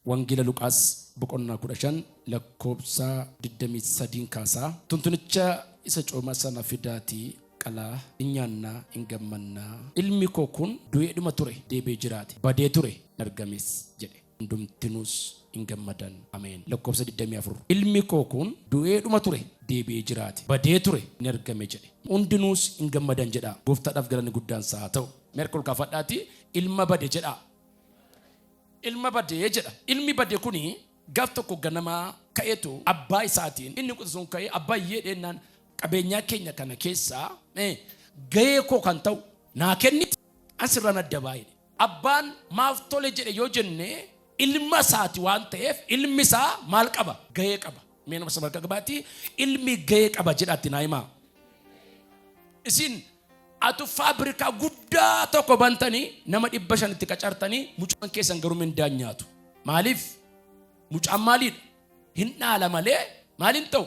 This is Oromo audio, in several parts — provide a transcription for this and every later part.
Wangeela Luqaas boqonnaa 15 lakkoofsa 23n kaasaa, Tuntunicha isa coomaa sana fidaatii qalaa, in nyaanna, in gammanna. Ilmi koo kun du'eedhuma ture, deebi'ee jiraate, badee ture, in argames jedhe. Hundumtinuus in gammadan. Ameen. Lakkoofsa 24 Ilmi koo kun du'eedhuma ture, deebi'ee jiraate, badee ture, in argame jedhe. Hundinuus in gammadan jedhaa. Gooftaadhaaf galanni guddaan isaa haa ta'u. Mee harka ol kaafadhaatii ilma bade jedhaa. Ilma bade jedha. Ilmi bade kuni gaaf tokko ganama ka'eetu abbaa isaatiin inni quxisuun ka'ee abbaa iyyee dheennaan qabeenyaa keenya kana keessaa eh, gahee koo kan ta'u naa kenniti asirraan adda baay'e. Abbaan maaf tole jedhe yoo jenne ilma isaati waan ta'eef ilmi isaa maal qaba? Gahee qaba. Mee nama samarka gabaatti ilmi gahee qaba jedhaatti naa himaa. Isin Atu faabirikaa guddaa tokko bantanii nama dhibba shan itti qacartanii mucaan keessan garuu mindaan nyaatu. Maaliif? Mucaan maaliidha? Hin dhaala malee maaliin ta'u?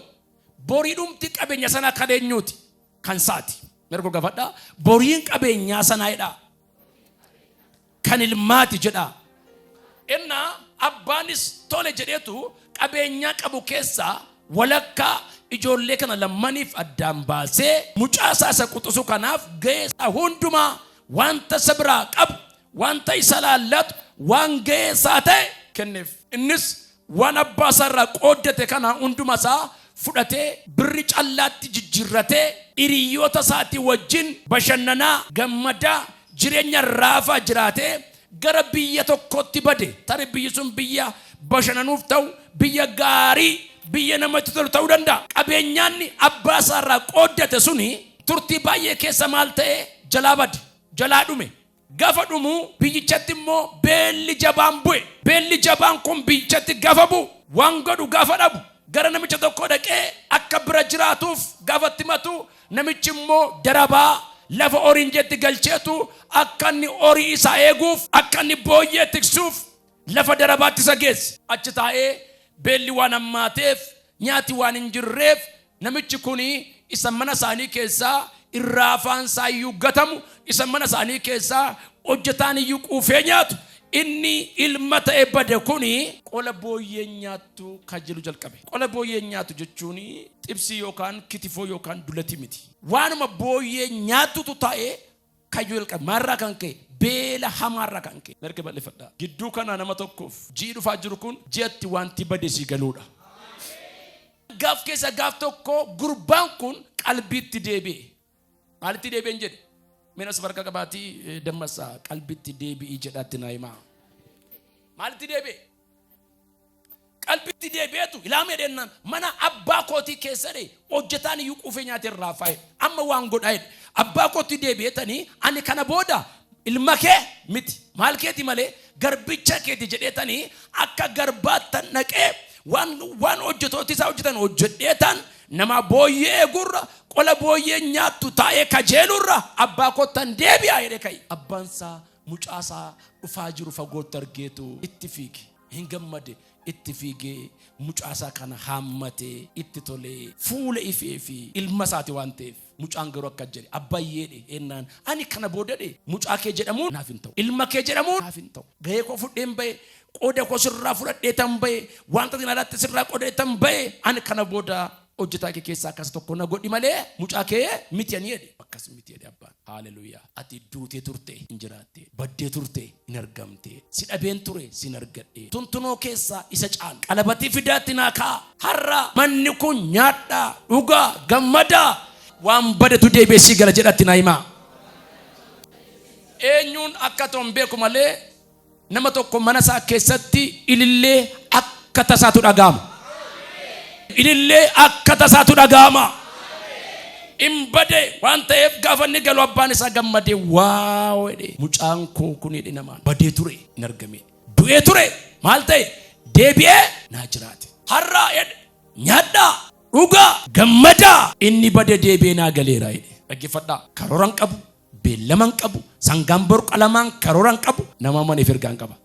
Boriidhumti qabeenya sanaa kan eenyuuti? Kan saati. Mirgo gafadhaa. Boriin qabeenyaa sanaa jedhaa. kan ilmaati jedhaa. Ennaa abbaanis tole jedheetu qabeenyaa qabu keessaa walakkaa ijoollee kana lammaniif addaan baasee mucaa isaa isa quxusu kanaaf gahee isaa hundumaa wanta isa biraa qabu wanta isa laallatu waan gahee isaa ta'e kenneef. Innis Waan abbaa isaa irraa qooddate kana hunduma isaa fudhatee birri callaatti jijjiirratee hiriyyoota isaatii wajjin bashannanaa, gammadaa, jireenya raafaa jiraatee gara biyya tokkootti bade. Tarii biyyi sun biyya bashananuuf ta'u, biyya gaarii, biyya namatti tolu ta'uu danda'a. Qabeenyaanni abbaa isaa irraa qooddate suni turtii baay'ee keessa maal ta'e? Jalaa bade, jalaa dhume. Gafa dhumu biyyichatti immoo beelli jabaan bu'e. Beelli jabaan kun biyyichatti gafa bu'u, waan godhu gafa dhabu, gara namicha tokkoo dhaqee akka bira jiraatuuf gafa itti himatu, namichi immoo darabaa lafa horiin jiretti galcheetu akka inni horii isaa eeguuf, akka inni booyyee tiksuuf, Lafa darabaatti isa geessi. Achi taa'ee, Beelli waan hammaateef, nyaati waan hin jirreef, namichi kun isa mana isaanii keessaa irraa afaan isaa iyyuu gatamu, isa mana isaanii keessaa hojjetaan iyyuu quufee nyaatu, inni ilma ta'e bade kun, qola booyyeen nyaattu kajeeluu jalqabe. Qola booyyeen nyaatu jechuun xibsii yookaan kitifoo yookaan dulatii miti. Waanuma booyyeen nyaattutu taa'ee Kayyoo jalqabe maalirraa kan ka'e? Beela hamaarraa kan ka'e. Narge bal'ifadhaa. Gidduu kanaa nama tokkoof ji'i dhufaa jiru kun ji'a itti wanti bade sii galuudha. Gaaf keessa gaaf tokko gurbaan kun qalbiitti deebi'e. Maalitti deebi'een jedhe? Mina safarka qabaatii dammassaa qalbiitti deebi'ii jedhaatti naa himaa. Maalitti deebi'e? qalbitti deebi'eetu ilaamee deennaan mana abbaa kootii keessa dhee hojjetaan iyyuu quufee nyaatee irraa faa'e amma waan godhaa jedhe abbaa kootti deebi'eetanii ani kana booda ilma kee miti maal keeti malee garbicha keeti jedheetanii akka garbaattan naqee waan waan hojjetooti isaa hojjetan hojjedheetaan nama booyyee eegurra qola booyyee nyaattu taa'ee kajeelurra abbaa koottan deebi'aa jedhe ka'i abbaan isaa Mucaa isaa dhufaa jiru fagootti argeetu itti fiige. Hin gammade itti fiigee mucaa isaa kana haammatee itti tolee fuula ifee fi ilma isaati waan ta'eef mucaan garuu akka jedhe abbayyeedhe ennaan ani kana boodadhe mucaa kee jedhamuun naaf hin ta'u ilma kee jedhamuun naaf hin ta'u gahee koo fudheen ba'e qooda koo sirraa fudhadhee tan ba'e wanta isin alaatti sirraa qodee tan ba'e ani kana booda Hojjetaa kee keessaa akkas tokko na godhi malee mucaa kee miti ani jedhe. Akkas miti jedhe abbaan. Haaleluuyaa. Ati duutee turte hin jiraatte. Baddee turte hin argamte. Si dhabeen ture sin argadhe. Tuntunoo keessaa isa caalu. Qalabatii fidaatti naa ka'a. Har'a manni kun nyaadhaa, dhugaa, gammadaa. Waan badetu deebi'ee sii gala jedhatti naa himaa. Eenyuun akka ta'u hin beeku malee Nama tokko mana isaa keessatti ilillee akka tasaatu dhaga'ama. Ilillee akka tasaatu dhaga'ama. In bade waan ta'eef gaafa inni galu abbaan isaa gammadee waaw jedhee mucaan koo kun jedhe namaan badee ture hin argamee du'ee ture maal ta'e deebi'ee naa jiraate har'aa jedhe nyaadhaa dhugaa gammadaa inni bade deebi'ee naa galeera jedhe dhaggeeffadhaa karooran qabu Beellama hin qabu. Sangaan bor qalamaan karoora hin qabu. Nama amaniif ergaa hin qaba.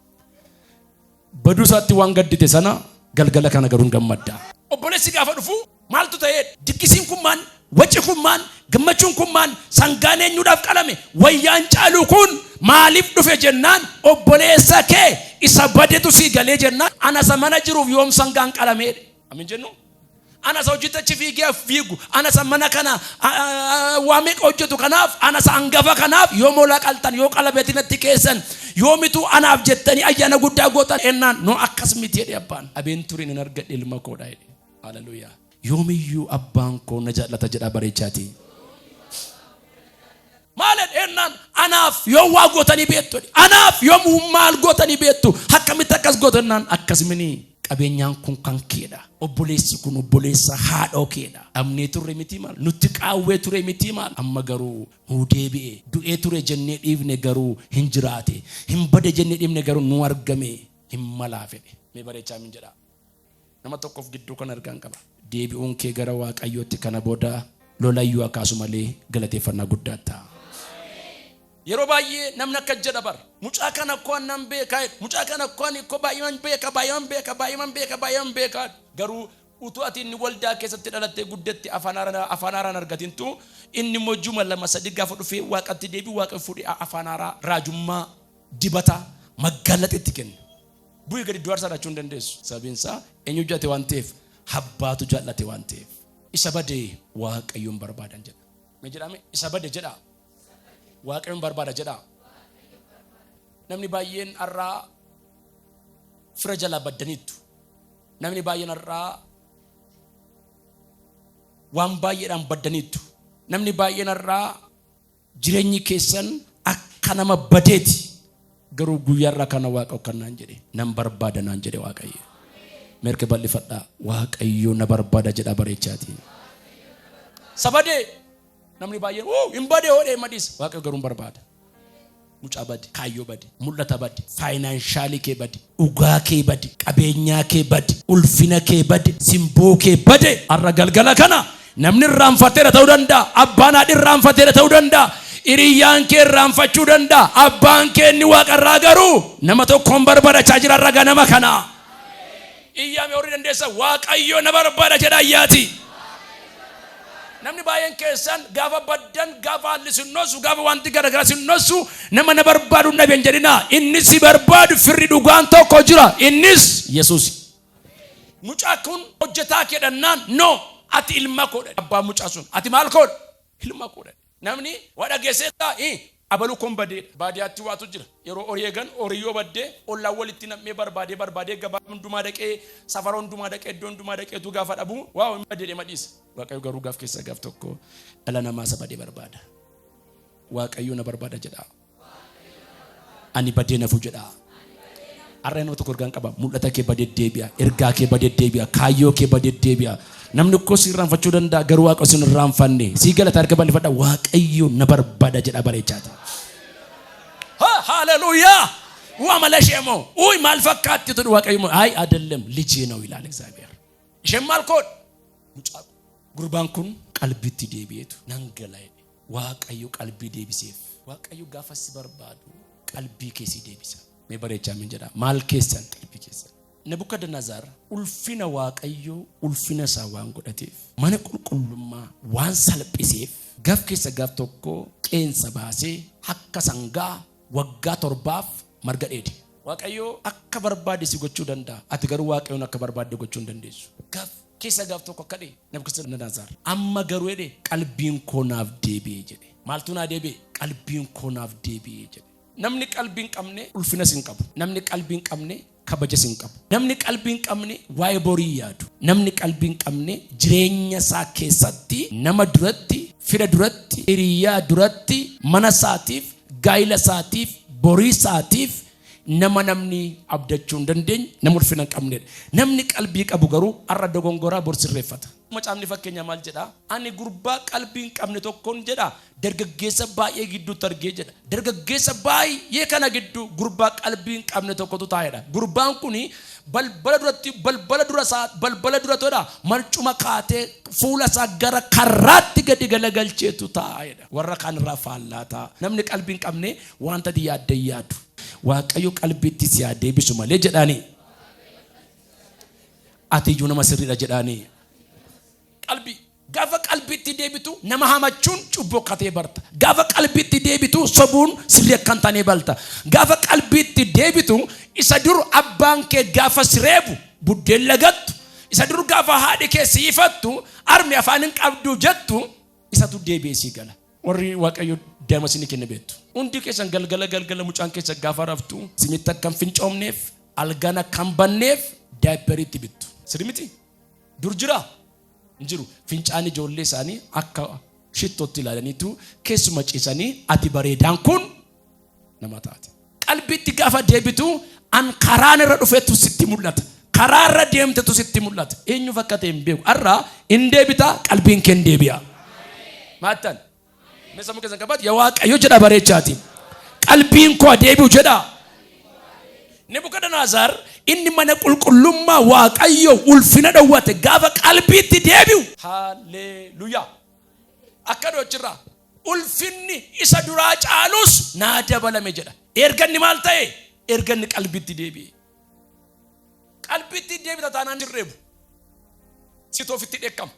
Baduu isaatti waan gaddite sana galgala kana garuu hin gammadda. Obboleessi gaafa dhufu maaltu ta'ee diggisiin kun maal waci kun maal gammachuun kun maal sangaan eenyuudhaaf qalame wayyaan caaluu kun maaliif dhufe jennaan obboleessa kee isa badetu sii galee jennaan ana isa mana jiruuf yoom sangaan qalamee amin jennu Ana isa hojjetti achi fiigee fiigu, ana isa mana kana waa meeqa hojjetu kanaaf, ana isa angafa kanaaf yoo mola qaltan, yoo qalabeti natti keessan, yoo mituu anaaf jettanii ayyaana guddaa gootan ennaan, no akkas miti jedhe abbaan. Abeenturii nan argadhe ilma koo dha jedhe. Hallelujah. Yoomiyyuu abbaan koo na jaallata jedhaa bareechaatii. Maal jedhe jennaan anaaf yoom waa gootanii beektu jedhe. Anaaf yoom maal gootanii beektu akkamitti akkas gootu jennaan akkas mini qabeenyaan kun kan keedha. Obboleessi kun obboleessa haadhoo keedha. Dhabnee turre mitii maal nutti qaawwee ture mitii maal amma garuu nuu deebi'e du'ee ture jennee dhiifne garuu hin jiraate hin bade jennee dhiifne garuu nu argame hin malaa fedhe mee bareechaa min jedhaa. Nama tokkof gidduu kan ergaan qaba. Deebi'uun kee gara Waaqayyootti kana booda lolayyuu akkaasu malee galateeffannaa guddaa ta'a. Yeroo baay'ee namni akka jedha bar mucaa kana koo nan beekaa jedhu mucaa kana koo ani koo baay'eeman beeka baay'eeman beeka baay'eeman beeka baay'eeman beekaa garuu utuu ati inni waldaa keessatti dhalattee guddetti afaan haaraa afaan haaraan argatintu inni immoo juma lama sadii gaafa dhufee waaqatti deebi'u waaqa fuudhee afaan haaraa raajummaa dibata maggaalaxetti kenna. Bu'ii gadi iddoo aarsaa dhachuu hin dandeessu. Sababiin isaa eenyu jaallate waan ta'eef habbaatu jaallate waan ta'eef. Isa bade waaqayyoon barbaadan jedha. Mee jedhame isa bade jedha. Waaqayyoon barbaada jedha. Namni baay'een har'aa fira jalaa baddaniittu. Namni baay'een har'aa waan baay'eedhaan baddaniittu. Namni baay'een har'aa Jireenyi keessan akka nama badeeti, garuu guyyaa irraa kana Waaqa kan naan jedhe, nan barbaada naan jedhe Waaqayyo. Meerke bal'ifadhaa, Waaqayyo na barbaada jedhaa bareechaatiin. Sabadee namni baay'een uu hin badee hoodhee madis Waaqayyo garuu hin barbaada. mucaa badi, kaayyoo badi, mul'ata badi, faayinaanshaalii kee badi, dhugaa kee badi, qabeenyaa kee badi, ulfina kee bade, simboo kee bade. Har'a galgala kana namni irraanfateera ta'uu danda'a, abbaan haadhi irraanfateera ta'uu danda'a, hiriyyaan kee irraanfachuu danda'a, abbaan kee inni waaqarraa garuu nama tokkoon barbadachaa jira har'a ganama kana. Iyyaa mee warri dandeessan Waaqayyo na barbaada jedhaa iyyaatii. Namni baay'een keessan gaafa baddan, gaafa haalli sin nossu, gaafa wanti garagaraa sin nossu nama na barbaadu hin dhaben jedhinaa. Inni si barbaadu firri dhugaan tokko jira. Innis Yesuusi. Mucaa kun hojjetaa kee dhannaan no ati ilma koodha. Abbaan mucaa sun ati maal koodha? Ilma koodha. Namni waa dhageesseetta i abalu kon badeedha baadiyaatti waatu jira yeroo horii eegan horii yoo badde ollaan walitti nam'ee barbaadee barbaadee gabaa hundumaa dhaqee safara hundumaa dhaqee iddoo hundumaa dhaqee utuu gaafa dhabu waaw hin bade jedhema dhiisa waaqayyo garuu gaaf keessaa gaaf tokko dhala namaa isa bade barbaada waaqayyo na barbaada jedha Ani badee nafu jedhaa. Har'a nama tokko ergaan qaba. Mul'ata kee badee deebi'a. Ergaa kee badee deebi'a. Kaayyoo kee badee deebi'a. Namni tokko si irraanfachuu danda'a garuu waaqa sin irraanfanne. Sii galata harka bal'ifadha. Waaqayyo na barbaada jedha bareechaati. Ha- Haleluuyaa! Waa mala ishee moo? Uuy maal fakkaatti jedhu waaqayyo moo? Ayi adellam lijee na'u ilaala Egzaabiheer. Isheen maal koodha? Mucaa gurbaan kun qalbitti deebi'eetu nan gala jedhe. Waaqayyo qalbii deebiseef. Waaqayyo gaafa si barbaadu qalbii kee si deebisa. Mee bareechaa min jedhaa maal keessan qalbii keessan. Nebukadnezar ulfina Waaqayyoo ulfina isaa waan godhateef mana qulqullummaa waan salphiseef gaf keessa gaf tokko qeensa baasee akka sangaa waggaa torbaaf marga dheede. Waaqayyoo akka barbaade si gochuu danda'a. Ati garuu Waaqayyoon akka barbaadde gochuu hin dandeessu. Gaf keessa gaf tokko akka dhee. Nebukadnezar. Amma garuu jedhe qalbiin koo naaf deebi'e jedhe. Maaltu naa deebi'e? Qalbiin koo naaf deebi'e jedhe. Namni qalbii hin qabne ulfinas hin qabu. Namni qalbii hin qabne kabajas hin qabu. Namni qalbii hin qabne waa'ee borii hin yaadu. Namni qalbii hin qabne jireenya isaa keessatti nama duratti, fira duratti, hiriyaa duratti, mana isaatiif, gaa'ila isaatiif, borii isaatiif Nama namni abdachuu hin dandeenye nama ulfina hin qabnedha. Namni qalbii qabu garuu har'a dogongoraa bor sirreeffata. Macaafni fakkeenyaa maal jedhaa? Ani gurbaa qalbii hin qabne tokkon jedhaa dargaggeessa baay'ee gidduutti argee jedha. Dargaggeessa baay'ee kana gidduu gurbaa qalbii hin qabne tokkotu taa'edha. Gurbaan kun balbala duratti balbala dura isaa balbala dura todha marcuma kaatee fuula isaa gara karraatti gadi galagalcheetu taa'edha. Warra kaan irraa faallaa ta'a. Namni qalbii hin qabne Waanta ati yaadde hin yaadu. Waaqayyo qalbiitti si haa deebisu malee jedhaanii. Ati iyyuu nama sirriidha jedhaanii. Qalbii. Gaafa qalbiitti deebitu nama hamachuun cubbuu akka ta'e barta. Gaafa qalbiitti deebitu sobuun sirrii akka hin taane balta. Gaafa qalbiitti deebitu isa dur abbaan kee gaafa si reebu buddeen lagattu, isa dur gaafa haadhi kee si ifattu armi afaan hin qabdu jettu isatu deebi'ee sii gala. Warri Waaqayyo daa'ima isinii kenne beektu. Hundi keessan galgala galgala mucaan keessa gaafa raftu isinitti akka hin fincoomneef algaan akka hin banneef daayipperii itti bittu. Sirrii miti? Dur jira? Hin jiru. Fincaan ijoollee isaanii akka shittootti ilaalaniitu keessuma ciisanii ati bareedaan kun nama taate. Qalbiitti gaafa deebitu an karaan irra dhufetu sitti mul'ata. Karaa irra deemtetu sitti mul'ata. Eenyu fakkate hin beeku. Har'a hin deebita qalbiin kee hin deebi'a. Maattan. Mee sammuu keessan qabaatu yaa waaqayyo jedha bareechaati. Qalbiin koo deebi'u jedha. Nebukadnezar inni mana qulqullummaa waaqayyo ulfina dhowwate gaafa qalbiitti deebi'u. Haalleluyaa. Akka dhochirraa. ulfinni isa duraa caalus naa dabalame jedha. Erga inni maal ta'e? Erga inni qalbitti deebi'e. Qalbitti deebita taanaan sirreebu. Situ ofitti dheekkama.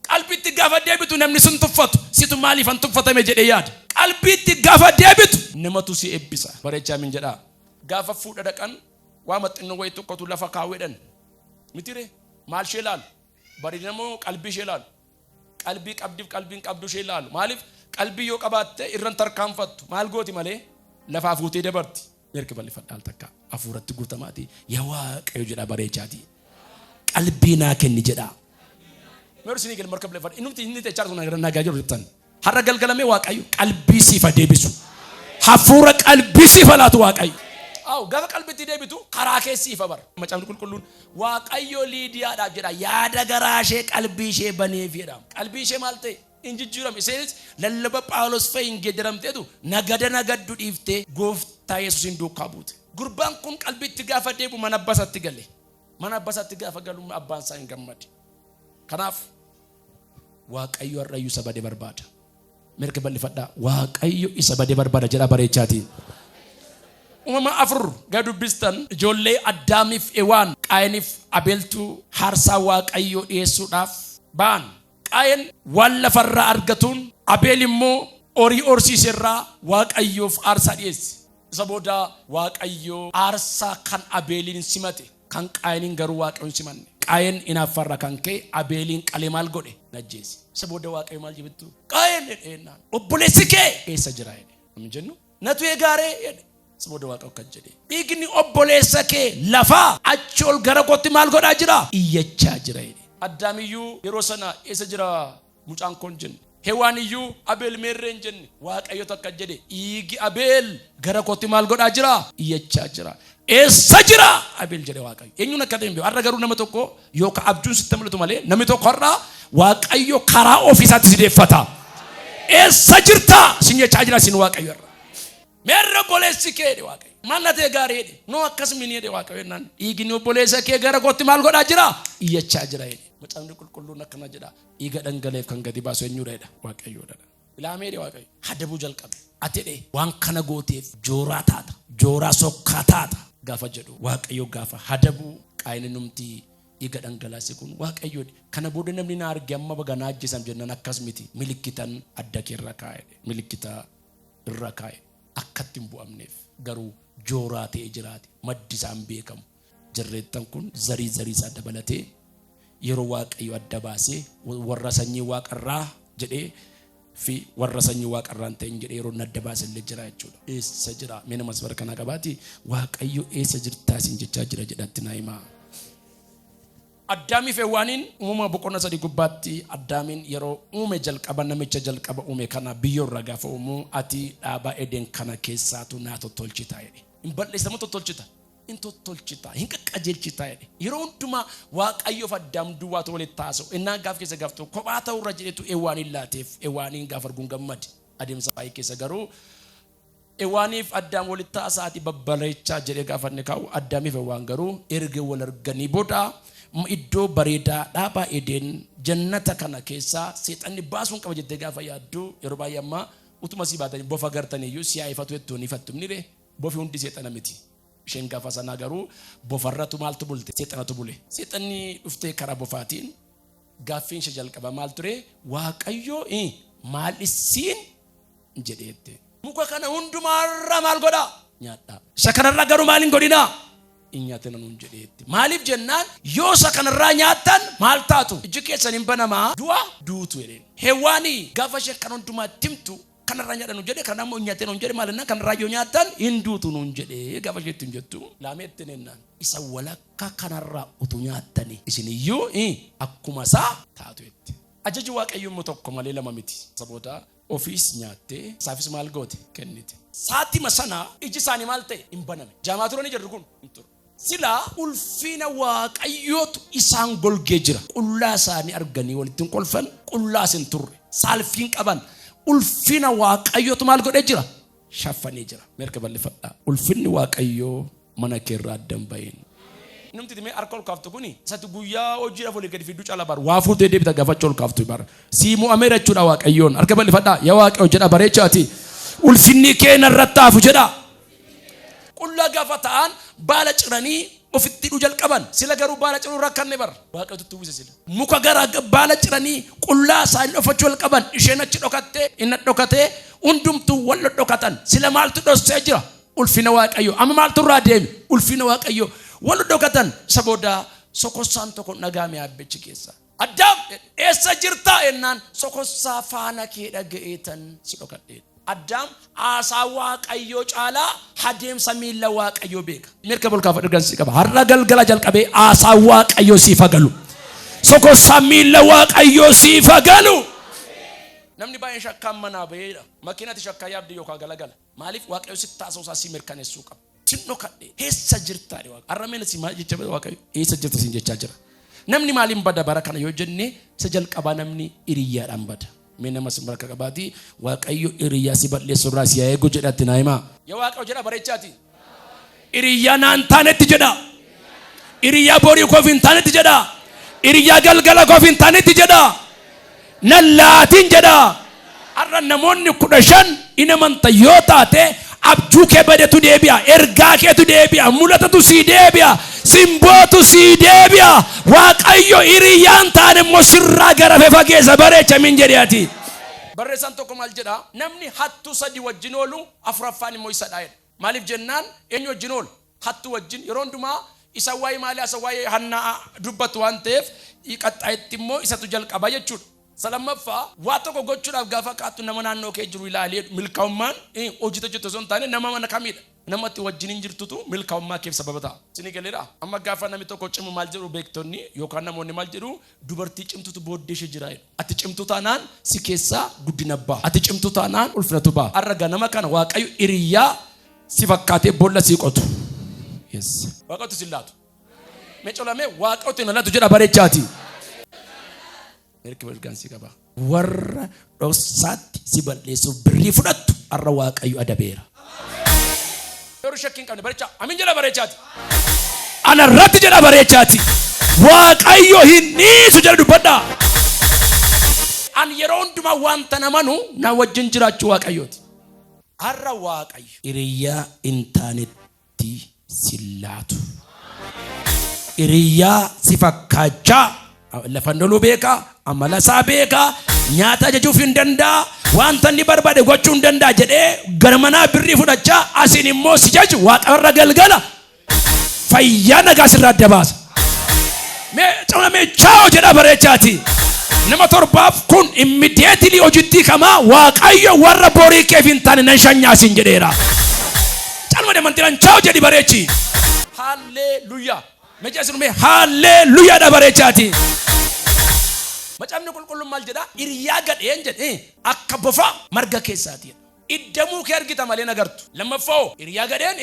Qalbitti gaafa deebitu namni sin tuffatu. Situ maaliifan tuffatame jedhee yaada. Qalbitti gaafa deebitu namatu si eebbisa. Bareechaa min jedhaa. Gaafa fuudha dhaqan waa maxxinnoo wayii tokkotu lafa kaawwedhan. Mitire maal ishee laalu? Barinamoo qalbii ishee laalu. Qalbii qabdiif qalbiin qabdu ishee laalu. Maaliif qalbii yoo qabaatte irran tarkaanfattu. Maal gooti malee lafaa fuutee dabarti. Meerki bal'ifadhaal takka hafuuratti guutamaati yaa waaqayyo jedhaa bareechaati. Qalbii naa kenni jedhaa. Meersi ni kenni marka bal'ifadha. Inni inni techaar sun nagaa jiru jettan. Har'a galgala mee Waaqayyo qalbii siif haa deebisu. Hafuura qalbii siif haa laatu Waaqayyo. Aw, gafa qalbitti deebitu karaa kee siif haa bara. Macaafni qulqulluun Waaqayyo Liidiyaadhaaf jedha yaada garaa ishee qalbii ishee baneef jedha. Qalbii ishee maal ta'e? Hin jijjiirame. Isheenis lallaba Phaawulos fa'i hin geeddaramteetu nagada nagaddu dhiiftee gooftaa Yesuusiin duukaa buute. Gurbaan kun qalbiitti gaafa deebi'u mana abbaa isaatti gale. Mana abbaa isaatti gaafa galu abbaan isaa hin gammade. Kanaaf Waaqayyo har'ayyuu isa bade barbaada. Mirga bal'ifadhaa. Waaqayyo isa bade barbaada jedhaa bareechaatii. Uumama afur gad dubbistan ijoollee Addaamiif Ewaan Qaayeniif Abeeltuu haarsaa Waaqayyoo dhiyeessuudhaaf ba'an. Qaayen waan lafarraa argatuun Abeel immoo horii horsiiserraa Waaqayyoof aarsaa dhiyeesse. Isa booda Waaqayyoo aarsaa kan Abeeliin simate. Kan Qaayeniin garuu Waaqayyo hin simanne. Qaayen inaaffa irraa kan ka'e Abeeliin qalee maal godhe? Hin ajjeese. Isa booda Waaqayyo maal jibittu? Qaayen jedhe jennaan. Obboleessi kee eessa jira jedhe. Namni jennu natu eegaaree jedhe. Isa booda Waaqayyo akkas jedhe. Dhiigni obboleessa kee lafaa achi ol gara kootti maal godhaa jira? Iyyachaa jira jedhe. Addaamiyyuu yeroo sana eessa jira? Mucaan koon jenne. Hewaan iyyuu Abeel meerree hin jenne. Waaqayyotu akka jedhe dhiigi Abeel gara kootti maal godhaa jira? Iyyachaa jira. Eessa jira? Abeel jedhe Waaqayyo. Eenyuun akka ta'e hin beeku. Har'a garuu nama tokko yookaan abjuun sitti mul'atu malee namni tokko har'a Waaqayyo karaa ofiisaatti si deeffata. Eessa jirta? Sin jechaa jira sin Waaqayyo irra. Meerra obboleessi kee jedhe Waaqayyo. Maal na ta'e gaarii jedhe. Noo akkas mini jedhe Waaqayyo jennaan. Dhiigni obboleessa kee gara kootti maal godhaa jira? Iyyachaa jira jedhe. Macaafni qulqulluun akkana jedha. Dhiiga dhangaleef kan gadi baasu eenyudha jedha? Waaqayyoodha. Ilaamee jedhe Waaqayyo. Hadabuu jalqabe. Ati jedhe waan kana gooteef jooraa taata. Jooraa sokkaa taata. Gaafa jedhu Waaqayyo gaafa hadabuu qaayini numti dhiiga dhangalaase kun Waaqayyoodha. Kana booda namni na arge amma baga na ajjeesam jennaan akkas miti. Milikkitan adda kee irra kaa'e. Milikkita irra kaa'e. Akkatti hin bu'amneef garuu jooraa ta'ee jiraate maddi isaan beekamu. Jarreettan kun zarii zarii isaa dabalatee yeroo waaqayyo adda baasee warra sanyii waaqarraa jedhee fi warra sanyii waaqarraa hin ta'in jedhee yeroo adda baase illee jira jechuudha. Eessa jira? Mee namas bara kanaa qabaati waaqayyo eessa jirtaa isin jechaa jira jedhatti naa himaa. Addaamiif Hewwaaniin uumama boqonna sadii gubbaatti Addaamiin yeroo uume jalqaba namicha jalqaba uume kana biyyoorraa gaafa uumuu ati dhaabaa Edeen kana keessaatu naa tottolchita jedhe. Hin bal'eessamu tottolchita. in tottolchita, hin qaqqajeelchita jedhe. Yeroo hundumaa Waaqayyoof Addaam duwwaatu walitti haasa'u. Ennaa gaaf keessa gaaf tokko kophaa ta'uu irra jedhetu Ewwaaniin laateef. Ewwaaniin gaafa arguun gammade. Adeemsa baay'ee keessa garuu Ewwaaniif Addaam walitti haasa'aati babbaleechaa jedhee gaafa inni kaa'u Addaamiif Ewwaan garuu erga wal arganii booda iddoo bareedaa dhaabaa Edeen jannata kana keessaa seexanni baasuun qaba jettee gaafa yaaddu yeroo baay'ee ammaa utuma sii baatanii bofa gartaniyyuu siyaa ifatu jettuun ifattumni ree Bofi hundi seexana miti. Isheen gafa sanaa garuu bofarratu maaltu bulte? Seexanatu bule. Seexanni dhuftee karaa bofaatiin gaaffiin ishee jalqaba maal ture? Waaqayyo eh, maal issiin jedheette. Muka kana hundumaarraa maal godhaa? Nyaadhaa. Isa kanarraa garuu maal hin godhinaa? Hin nyaatina nuun jedheetti. Maaliif jennaan yoo isa kanarraa nyaattan maal taatu? Iji keessan hin banamaa du'a duutu jedheen. Hewaanii gafa isheen kan hundumaatti himtu Kana irraa nyaadha nuun jedhe, kana ammoo hin nyaatin nuun jedhe, maal jennaan, kana irraa yoo nyaattan hin duutu nuun jedhe gaafa ishee ittiin jettu. Laamee ittiin jennaan. Isa walakkaa kana irraa utuu nyaattanii isin iyyuu akkuma isaa taatu jette. Ajaji Waaqayyoo immoo tokko malee lama miti. Isa booda ofiis nyaattee isaafis maal goote? Kennite. Saatima sana iji isaanii maal ta'e? Hin baname. Jaamaa turanii jarri kun? Hin turre. Sila ulfiina Waaqayyootu isaan golgee jira. Qullaa isaanii arganii walitti hin kolfan, qullaas hin turre. Saalfii hin qaban. Ulfiina Waaqayyootu maal godhee jira? Shaffanee jira. Meerka bal'ifadhaa. Ulfinni Waaqayyoo mana kee irraa adda hin bahin. Namti itti mee harka ol kaaftu kuni isatti guyyaa hojiidhaaf walii gadi fidduu caalaa bar waa fuutee deebita gaafachuu ol kaaftu bar sii mo'ameera jechuudha waaqayyoon harka bal'ifadhaa yaa waaqayyo jedha bareechaati ulfinni kee narratti haafu jedha. Qullaa gaafa ta'an baala ciranii ofitti hidhuu jalqaban. Sila garuu baala ciruun rakkanne bar. Waaqayyotu itti uwwise sila. Muka gara baala ciranii qullaa isaanii dhoffachuu jalqaban. Isheen achi dhokattee, inna dhokatee, hundumtuu wal dhodhokatan. Sila maaltu dhossee jira? Ulfina Waaqayyoo. Amma maaltu irraa deeme? Ulfina Waaqayyoo. Wal dhodhokatan. Isa booda sokossaan tokko hin dhaga'ame aabbichi keessa. Addaam! Eessa jirtaa? ennaan, sokossaa faana kee dhaga'eetan si dhokadheedha. Addaam haasaa Waaqayyoo caalaa hadeemsa miilla Waaqayyoo beeka. Mee harka ol kaafadhu ergan si qaba. Har'a galgala jalqabee haasaa Waaqayyoo siif haa galu. Sokossaa miilla Waaqayyoo siif haa galu. Namni baay'een shakkaan manaa ba'eedha. Makiinati shakkaa yaabde yookaan galagala. Maaliif Waaqayyo sitti haasa'uu isaa si mirkaneessuu qaba. Sin dhokadhe eessa jirta jedhe Waaqayyo. Har'a meena si maal jecha bada Waaqayyo eessa jirta sin jechaa jira. Namni maaliin bada bara kana yoo jenne isa jalqabaa namni hiriyyaadhaan bada. Mee nama sin baraka qabaati Waaqayyo hiriyyaa si balleessu irraa si haa eegu jedhatti naa himaa. Yaa Waaqayyo jedha bareechaati. Hiriyaa naan taanetti jedhaa. Hiriyaa borii koof hin taanetti jedhaa. Hiriyaa galgala koof hin taanetti jedhaa. Nan laatiin jedhaa. Har'a namoonni kudha shan in amanta yoo taate abjuu kee badetu deebi'a, ergaa keetu deebi'a, mulatatu sii deebi'a, simbootu sii deebi'a. Waaqayyo hiriyaan taane immoo sirraa garafe fageessa bareecha min jedhe ati. Barreessaan tokko maal jedha? Namni hattuu sadi wajjin oolu afuraffaan immoo isadha jedha. Maaliif jennaan eenyu wajjin oola? Hattuu wajjin. Yeroo hundumaa isa waa'ee maalii haasa'u? Waa'ee Hannaa dubbatu waan ta'eef qaxxaayetti immoo isatu jalqaba jechuudha. Isa lammaffaa waa tokko gochuudhaaf gaafa kaatu nama naannoo kee jiru ilaali jedhu. Milkaa'ummaan hojiitti hojjettu osoo hin taane nama mana kamiidha? Nama ati wajjiniin jirtutu milkaa'ummaa keef sababa ta'a. Isinii galeeraa? Amma gaafa namni tokko cimu maal jedhu beektonni yookaan namoonni maal jedhu? Dubartii cimtutu booddee ishee jira jedhu. Ati cimtuu taanaan si keessaa guddina ba'a. Ati cimtuu taanaan ulfinatu ba'a. Har'a ganama kana Waaqayyo hiriyaa si fakkaatee boolla sii qotu. Yes. Waaqayyotu sin laatu. Mee colamee Waaqayyotu na laatu jedha bareechaati. Mirgi mirgaan si qaba. Warra dhoksaatti si balleessuuf birrii fudhattu har'a Waaqayyo adabeera. Yeroo shakkii hin qabne bareechaa. Amin jedha bareechaati. Ana irratti jedha bareechaati. Waaqayyo hin dhiisu jedha dubbadhaa. An yeroo hundumaa wanta namanu na wajjin jiraachuu Waaqayyooti. Har'a Waaqayyo. Hiriyaa hin taanetti. itti sin laatu. Hiriyaa si fakkaachaa lafa hin loluu beeka, amala isaa beeka, nyaata ajajuuf hin danda'a, wanta inni barbaade gochuu hin danda'a jedhee gara manaa birrii fudhachaa asiin immoo si jaju waaqarra galgala fayyaa nagaa sirraa adda baasa. Mee cama mee chaa'o jedha bareechaati. Nama torbaaf kun immediately hojittii kamaa waaqayyo warra borii keef hin taane nan shanyaasin jedheera. Calma deemantiran chaa'o jedhi bareechi. Haalleeluyyaa. Meeqa isin mee haalleeluyyaa dha bareechaati. Macaafni qulqulluun maal jedha? Hiriyaa gadheen jedhe akka bofaa marga keessaati. Iddamuu kee argita malee nagartu. Lammaffaa hiriyaa gadheen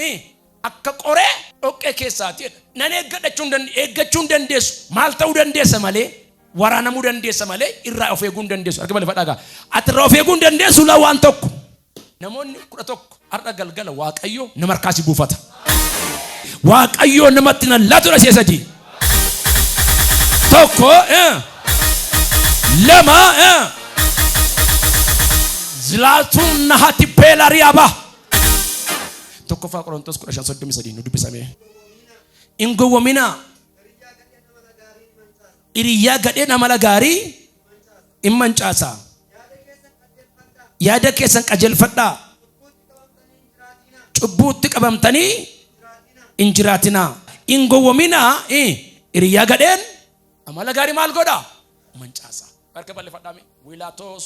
Akka qoree dhoqqee keessaati jedha. Nan eeggadha jechuun dand eeggachuu hin dandeessu. Maal ta'uu dandeessa malee? Waraanamuu dandeessa malee irraa of eeguu hin dandeessu. Arga bal'ifadhaa egaa. Ati irraa of eeguu hin dandeessu la waan tokko. Namoonni kudha tokko har'a galgala Waaqayyo nama harkaa si buufata. Waaqayyo namatti nan laatudha si'a sadii. Tokko eh, lama eh. Zlaatun nahati beelariyaaba. Tokkoffaa Qorontos 15:33 nu dubbisamee. Hin gowwominaa. Hiriyaa gadheen amala gaarii hin mancaasa. Yaada keessan qajeelfadhaa. Cubbuutti qabamtanii hin jiraatinaa. Hin gowwominaa. Hiriyaa gadheen amala gaarii maal godha? Mancaasa. Harka bal'ifadhaa mee. Wiilaatos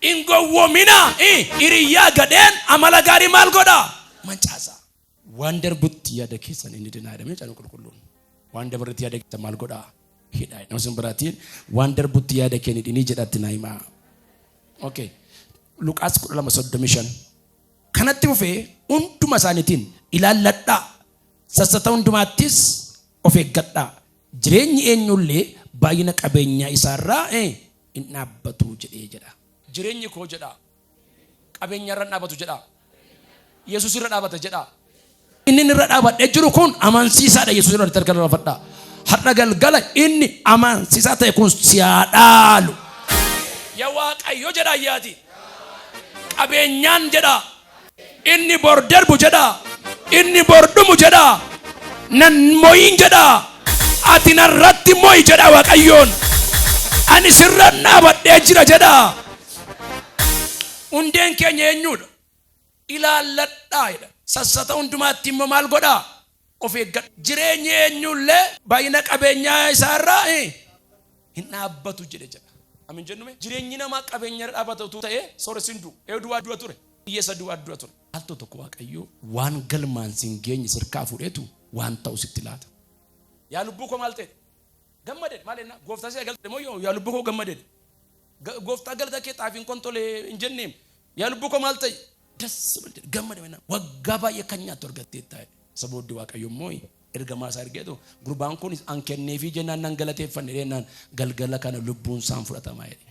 Hin gowwoominaa, i. Hiriyyaa gadheen amala gaarii maal godha? Mancaasa. Waan darbutti yaada keessan inni dinaa jedhamee cana qulqulluun. Waan dabarretti yaada keessan maal godha? Hidhaa. Nama sin biraatiin waan darbutti yaada kee ni dhinii jedhatti naa himaa. Okay. Luqaas 12:35. Kanatti fufee hunduma isaaniitiin ilaalladhaa. Sassata hundumaattis of eeggadhaa. Jireenyi eenyullee baay'ina qabeenyaa isaa irraa hin dhaabbatu jedhee jedha. Jireenyi koo jedhaa. Qabeenya irra hin dhaabatu jedhaa. Yesus irra dhaabata jedhaa. Inni irra dhaabadhee jiru kun amansiisaadha Yesus irratti harka laafadhaa. Har'a galgala inni amansiisaa ta'e kun si haa dhaalu. Ya Waaqayyo jedha ayyaati. Qabeenyaan jedha. Inni bor darbu jedha. Inni bor dhumu jedha. Nan moyin jedha. Ati narratti moyi jedha Waaqayyoon. Ani sirra dhaabadhee jira jedha. Hundeen keenya eenyudha? Ilaalladhaa jedha. Sassata hundumaatti immoo maal godhaa? Of eeggadhu. Jireenyi eenyu illee baay'ina qabeenyaa isaa irraa hin dhaabbatu jedhe jedha. Amin jennume jireenyi namaa qabeenya irra dhaabbata utuu ta'ee sooressi hin du'u. Eeyu duwwaa du'a ture. Hiyyeessa duwwaa du'a ture. Al tokko Waaqayyo waan galmaan si hin geenye sirkaa fuudheetu waan ta'u sitti laata. Yaa lubbuu koo maal ta'edha? Gammadedha. Maal jennaa? Gooftaa si galtedha moo yoo yaa lubbuu koo gammadedha? Gooftaa galata kee xaafiin kun tole hin jenneem. Yaa lubbuu koo maal ta'e? Das mal jedhe gammada mennaa waggaa baay'ee kan nyaattu argatteetta jedhe. Isa booddee Waaqayyo immoo ergamaa isaa ergeetu gurbaan kunis an kenneefii jennaan nan galateeffanne jennaan galgala kana lubbuun isaan fudhatamaa jedhe.